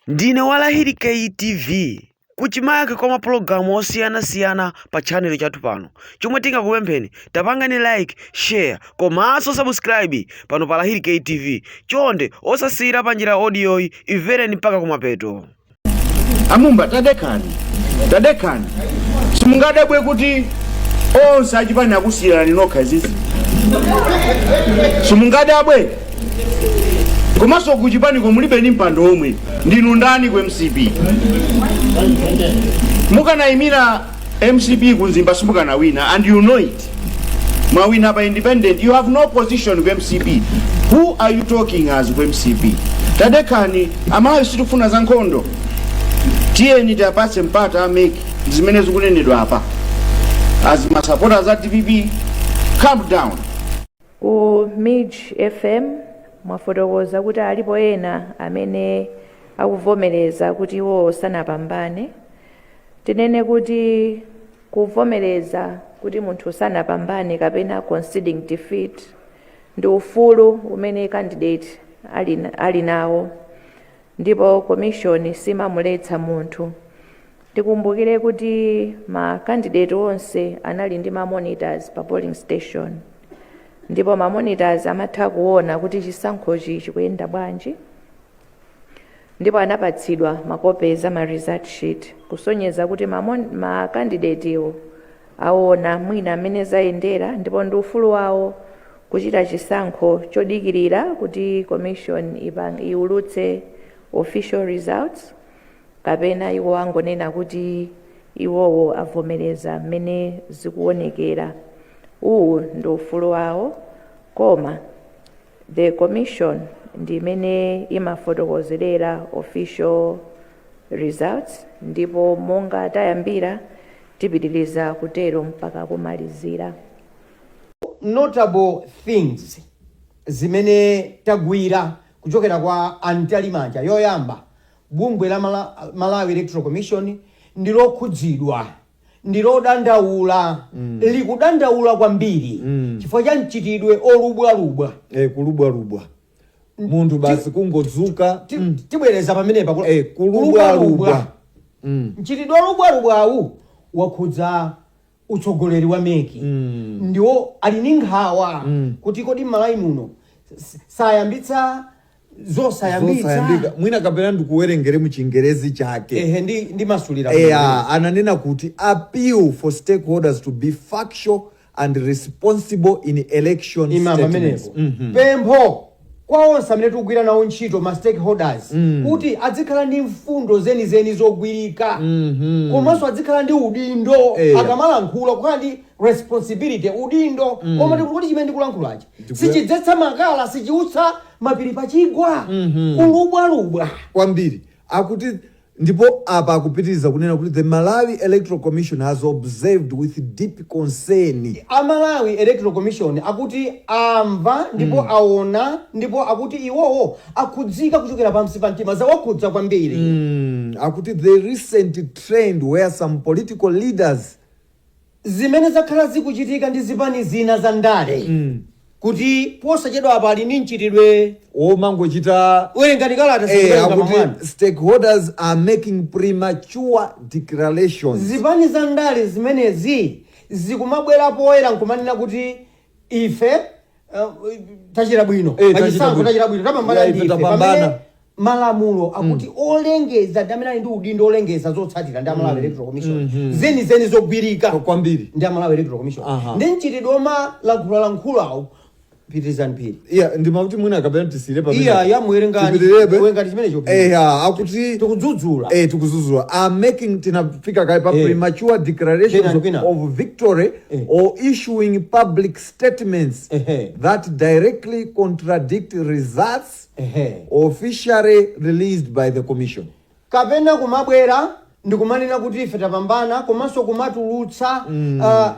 Ndine wa Lahiri Kay TV. Kuchimake kwa mapulogalamu osiyanasiyana pa tchanelo chathu pano. Chomwe tingakupempheni, tapangani like, share komanso sabusikirayibi pano pa Lahiri Kay TV. Chonde osasiyira panjira audiyoyi, imvereni mpaka kumapeto. amumba tadekhani tadekhani simungadabwe kuti onse achipani akusiyirani nokha izizi simungadabwe komanso kuchipaniko mulibe ni mpando omwe ndinu ndani ku mcp mukanayimira mcp ku mzimba simukanawina and you know it mwawina pa independent you have no position ku mcp who are you talking as ku mcp tadekhani amalawi sitikufuna za nkhondo tiyeni tiwapatse mpata a mec zimene zikunenedwa apa as masapotaz a dpp calm down Ku Mij FM mwafotokoza kuti alipo ena amene akuvomereza kuti iwowo sanapambane. Tinene kuti kuvomereza kuti munthu sanapambane kapena conceding defeat ndi ufulu umene candidate ali, ali nawo ndipo komishoni siimamuletsa munthu Tikumbukire kuti ma candidate onse anali ndi ma monitors pa polling station ndipo ma monitors amatha kuona kuti chisankhochi chikuyenda bwanji ndipo anapatsidwa makopizi a ma result sheet kusonyeza kuti ma, mon, ma candidatewo aona mwina mmene zayendera ndipo ndi ufulu wawo kuchita chisankho chodikirira kuti commission ipang, iulutse official results kapena iwo angonena kuti iwowo avomereza mmene zikuonekera uwu ndi ufulu wawo koma the commission ndi imene imafotokozerera official results ndipo monga tayambira tipitiriza kutero mpaka kumalizira notable things zimene tagwira kuchokera kwa a Mtalimanja yoyamba Bungwe la Malawi Electoral Commission ndi lokhudzidwa, ndi lodandaula, likudandaula kwambiri chifukwa cha mchitidwe olubwalubwa. Eh, kulubwalubwa munthu basi kungodzuka Ti- mm. Tibwereza pamenepa kula- Eh, kulubwalubwa Mm. mchitidwe olubwalubwawu wakhudza utsogoleri wa MEC Mm. ndiwo ali ndi nkhawa kuti kodi m'malawi muno s- sayambitsa zosayambitsa mwina kapena ndikuwerengere mu chingerezi chake ehe ndi ndi masulira eya ananena kuti appeal for stakeholders to be factual and responsible in election imama statements amenepo Mhm. pempho kwa onse amene tikugwira nawo ntchito ma stakeholders kuti azikhala ndi mfundo zenizeni zogwirika komanso azikhala ndi udindo Eya. akamalankhula kukhala ndi responsibility udindo womati chimene ndikulankhulachi sichidzetsa makala sichiutsa mapiri pachigwa kulubwalubwa kwambiri akuti ndipo apa akupitiriza kunena kuti the malawi electoral commission has observed with deep concern a malawi electoral commission akuti amva ndipo aona ndipo akuti iwowo akhudzika kuchokera pansi pa mtima zawakhudza kwambiri Mm, akuti the recent trend where some political leaders Zimene zakhala zikuchitika ndi zipani zina za ndale kuti posachedwapa ali ndi mchitidwe omangochita werengani kalata eh, zikuwerenga akuti mamwani. stakeholders are making premature declarations zipani za ndale zimenezi zikumabwera poyera n'kumanena kuti ife uh, tachita bwino Eh, tachita pachisankho bwino. tachita bwino tapambana Ya, ife ndi ife tapambana. pamene Malamulo akuti olengeza ndi amene ali ndi udindo olengeza zotsatira ndi a Malawi Electoral Commission zenizeni zogwirika kwambiri ndi a Malawi Electoral Commission Aha. ndi mchitidwe omalankhulalankhulawo pitirizani phiri eya ndimati mwina kapena tisiyire pamenepa. iya yamuwerengani Tipitirebe. werengani chimenecho phiri eya akuti tikudzudzula eh tikudzudzula are making tinafika kaye pa Eh. premature declarations Kwina, kwina. of victory Eh. or issuing public statements Ehe. that directly contradict results officially released by the commission. kapena kumabwera ndikumanena kuti ife tapambana komanso kumatulutsa ah,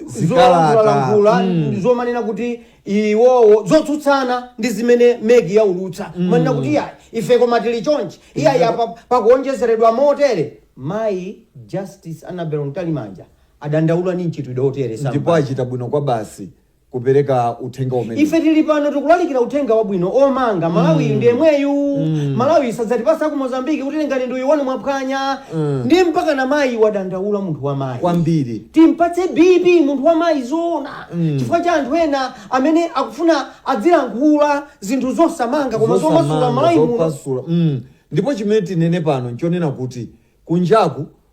Zikalata. zolankhulalankhula Mm. zomanena kuti iwowo zotsutsana ndi zimene MEC yaulutsa kumanena kuti iyayi ife koma tili chonchi iyayi apa pakuonjezeredwa motere mayi justice annabel mtalimanja adandaula ndi mchitidwe otere ndipo achita bwino kwabasi kupereka uthenga umene ife tili pano tikulalikira uthenga wabwino omanga malawiyu ndi yemweyu malawiyu sadzatipasa ku mozambiki kuti tengani uyu wanu mwaphwanya ndi mpaka na mayi wadandaula munthu wa mayi kwambiri timpatse bp munthu wa mayi zoona chifukwa cha anthu ena amene akufuna azilankhula zinthu zosamanga koma zomasula Zosamanga, malawi muno zopasula. Mm. ndipo chimene tinene pano nchonena kuti kunjaku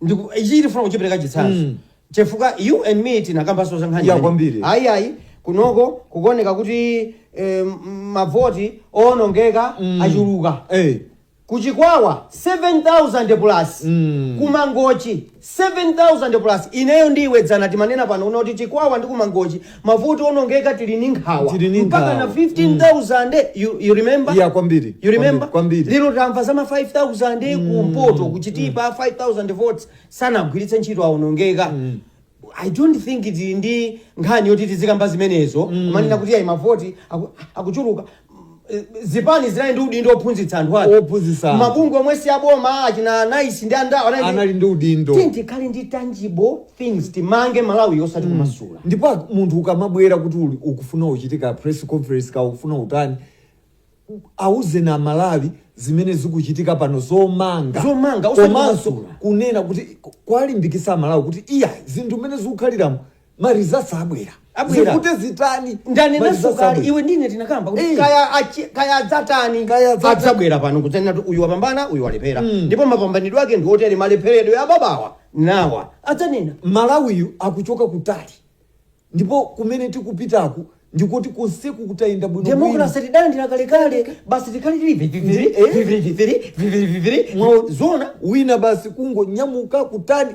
Ndiye ichi ndifuna kuchipereka chitsanzo. Mm. Chifukwa you and me tinakambanso za nkhani. Ya imene kwambiri. Ayi ayi kunoko kukuoneka kuti eh, m- mavoti owonongeka Mm. achuluka. Eh. kuchikwawa 7000 plus Mm. kumangochi 7000 plus ineyo ndi iwe dzana timanena panopano kuti chikwawa ndi kumangochi mavoti onongeka tili ndi nkhawa mpaka na 15000 you, you remember Iya, kwambiri. you remember Kwambiri, kwambiri. lero tamva zama 5000 ku mpoto ku Chitipa 5000 votes sanagwiritse ntchito aonongeka i don't think tili ndi nkhani yoti tizikamba zimenezo kumanena kuti ayi mavoti aku- akuchuluka zipani zinali ndi udindo ophunzitsa anthu ake Ophunzitsa anthu. mabungwe omwe si aboma achina NICE ndi andawo anali anali ndi udindo Tiyeni tikhale ndi tangible things timange malawi osati kumasula ndipo ak- munthu ukamabwera kuti uli- ukufuna uchititsa press conference ka ukufuna utani auzeni amalawi zimene zikuchitika pano zomanga Zomanga, osati komanso kumasula. kunena kuti kuwalimbikitsa amalawi kuti iya zinthu mmene zikukhaliramo ma results abwera Abwera. zivute zitani ma ndanenanso kale abwera. iwe ndine tinakamba kuti Eh. kaya achi- kaya adzatani Kaya adzata- adzabwera pano kudzanena kuti uyu wapambana uyu walephera ndipo mapambanidwe ake ndi otere malepheredwe ababawa nawa adzanena malawiyu akuchoka kutali ndipo kumene tikupitako ndikuti konseku kutayenda bwino demokrasi tidalandira kalekale basi tikhale tili viviviri Eh. viviviri viviviri viviviri Mwa- zona wina basi kungonyamuka kutali